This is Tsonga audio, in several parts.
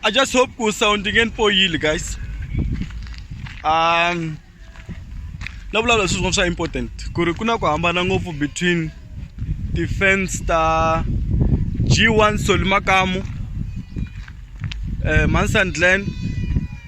I just hope ku sound ngeen poyile guys um la vulavula swilo swin'wana swa important ku ri ku na ku hambana ngopfu between ti-fans ta g1 soli makamu um eh, mansandland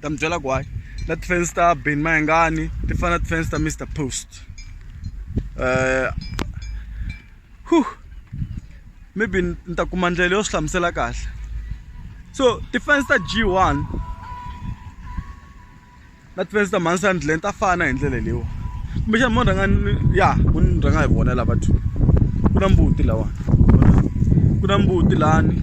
ta mi byela ku hayi na tifensi ta ben mayengani ti fana na tifensi ta mr post um uh, maybe ni ta kuma ndlela yo swi hlamusela kahle so tifensi ta g one na tifensi ta mansandland ta fana hi ndlela leyiwa kumbexana mo rhanga ya ku ni rhanga hi vona lava two ku na mbuti lawani ku na mbuti lani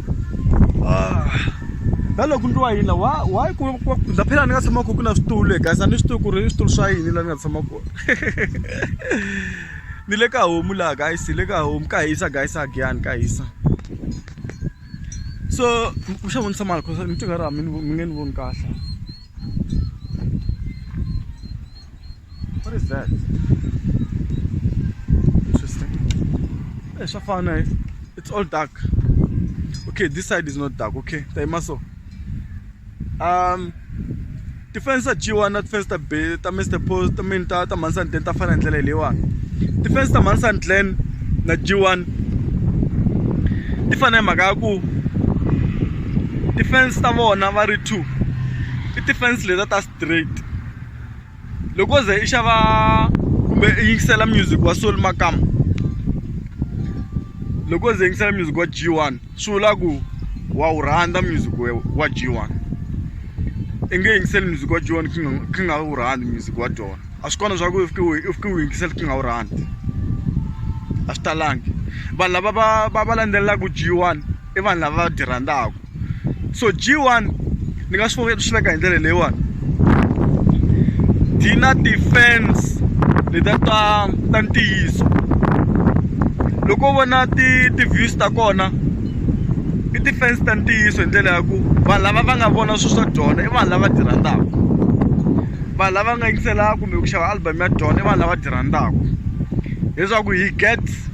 Ah. na loko ni ri wa yini wa wa ku ndza phela ni nga tshama ku ku na switulu le guys a ni swi tivi ku ri switulu swa yini laha ni nga tshama kona ni le ka homu laha guys hi le ka homu ka hisa guys a giyani ka hisa so ku xa vonisa mali cause ni tinga ra mi mi nge ni voni kahle What is that? Interesting. Hey, Shafana, eh? it's all dark. Okay, this side is not dark, okay? Taimaso. Um, defense ta dyiwa na defense ta be ta mr post ta mini ta ta mansan glen ta fana hi ndlela hi leyiwani defense ta mansan glen na dyiwani ti fana hi mhaka ya ku defense ta vona va ri two i defense leta ta straight loko ze i xava kumbe i yingisela music wa soul makama loko ze yingisela music wa g one swi vula ku wa wu rhandza music wa g one i nge yingiseli music wa g one kha nga kha nga wu rhandzi music wa dyona a swi kona swa ku i fike u i fike u yingisela kha nga wu rhandzi a swi talangi vanhu lava va va va landzelelaku g one. i vanhu lava va byi rhandzaka so G1 ni nga swi swi veka hi ndlela leyiwani yi na ti-fans leta ta ta ntiyiso loko u vona ti ti-views ta kona i ti-fans ta ntiyiso hi ndlela ya ku vanhu lava va nga vona swilo swa dyona i vanhu lava byi rhandzaka vanhu lava nga yingiselaka kumbe ku xava album ya dyona i vanhu lava byi rhandzaka leswaku hi get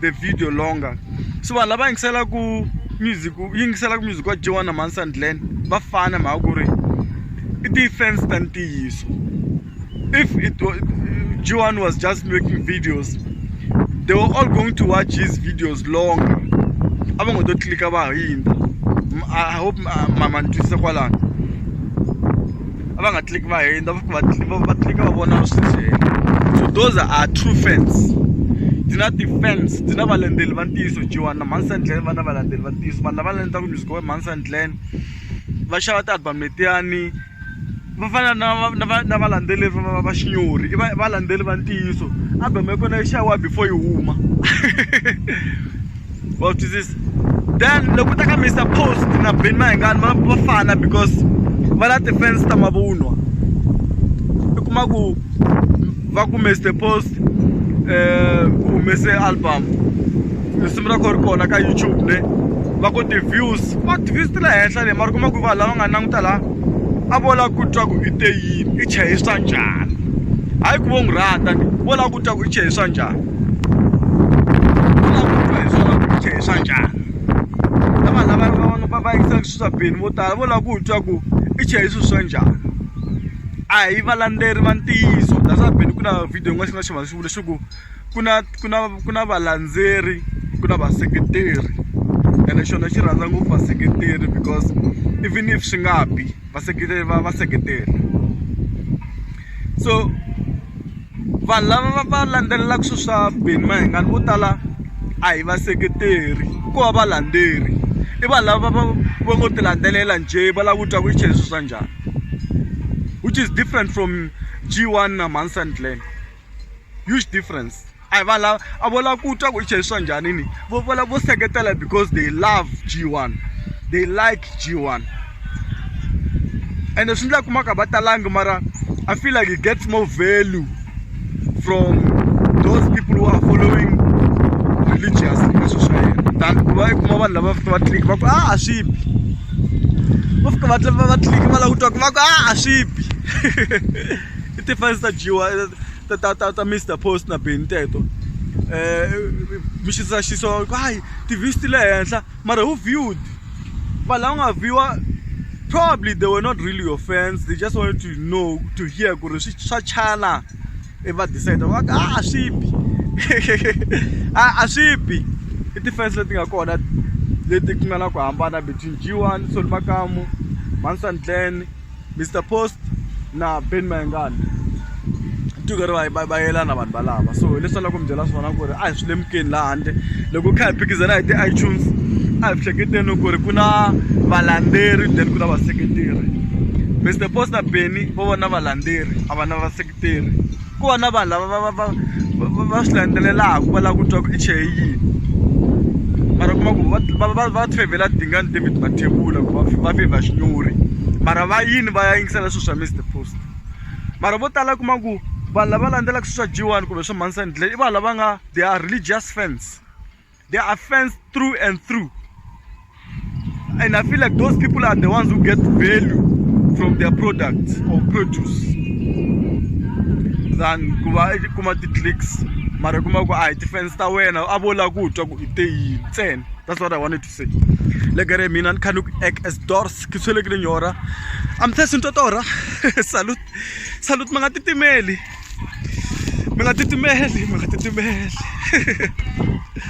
the video longer so vanhu lava yingiselaku music yingiselaku music wa joan manson glen va fana mhaka ku ri i ti-fans ta ntiyiso if it was, joan was just making videos they were all going to watch his videos longer a va ngo to tlilika va hindza i hope mama ni twisisa kwalano a va nga click va hindza va va va click va vona swi ndzeni so those are true fans ndzi na ti-fans ndzi na valendzeleri va ntiyiso Joan na Mhani Sandline va na valendzeleri va ntiyiso vanhu lava landzaka music wa Mhani Sandline va xava ti-album letiyani va fana na na na valandzeleri va va xinyori i va valandzeri va ntiyiso album ya kona yi xaviwa before yi huma wa swi twisisa then loko u ta ka mr post na ben mahengani va va fana because va na ti-fans ta mavunwa i kuma ku va ku mr post um humese album risimu ra ko ri kona ka youtube ne va ku ti-views va ti-views ti le henhla le mara kuma ku vanhu lava nga languta laha a vo lava ku twa ku i te yini i chayiswa njhani hayi ku vo n'wi rhandza ni vo lava ku twa ku i chayiswa njhani swibini vo tala vo lava ku twa ku i chele swilo swa njhani a hi valandzeri va ntiyiso that's beni ku na video yin'wana xi nga xi va xi vula xi ku ku na ku na ku na valandzeri ku na vaseketeri ene xona xi rhandza ngopfu vaseketeri because even if swi nga bi vaseketeri va va seketela. so vanhu lava va va landzelelaka swilo swa Benny Mayengani vo tala a hi vaseketeri ko va valandzeri i vanhu lava va va ngo ti landzelela njhe va lava ku twa ku i chele swilo swa njhani which is different from G1 na Mhani Sandland huge difference. a hi vanhu lava a vo lava ku twa ku i chayiswa njhani ni vo vo lava vo seketela because they love g one they like g one ende swi ndla kumaka va talangi mara i feel like he gets more value from those people who are following religious leswi swa yena than ku va i kuma vanhu lava fika va tliki va ku a a swi bi va fika va va va tliki va lava ku twa ku va ku a a swi bi i tifense ta g one ta ta ta ta Mister Post na Benny teto um mi xisa xiso ku hayi ti-views ti le henhla mara who viewed vanhu lava nga viewa probably they were not really your fans they just wanted to know to hear ku ri swi swa chana i va decide va ka a swi bi a a swi bi i ti-fans leti nga kona leti ku nga na ku hambana between G1 Solly Makamu Mansanglen. Mr Post na Ben Mayengani tiko ri va va va yelana vanhu valava so hi leswi loko mi byela swona ku ri a hi swi lemukeni laha handle loko kha hi phikizana hi ti-itunes a hi hleketeni ku ri ku na valandzeri then ku na vaseketeri Mister Post na Benny vo vona valandzeri a va na vaseketeri. tirhi ku va na vanhu lava va va va va va swi landzelelaka va lava ku twa ku i cheye yini mara u kuma ku va va va va fevhela dingani david mathebula ku va va fevha xinyori mara va yini va ya yingisela swilo swa mr post mara vo tala kuma ku vanhu lava landzelaka swilo swa g one kumbe swa mhani sandile i vanhu lava nga they are religious fans. they are fenced through and through. And I feel like those people are the ones who get value from their product or produce than kuva kuma ti-clicks mara kuma ku a hi ti-fans ta wena a vo lava ku twa ku i te yini ntsena that's what i wanted to say legere mina ni kha ni ku act as dors ke tshwelekile nyora i'm test ntotora salut salut mi nga titimeli mi nga titimeli mi nga titimeli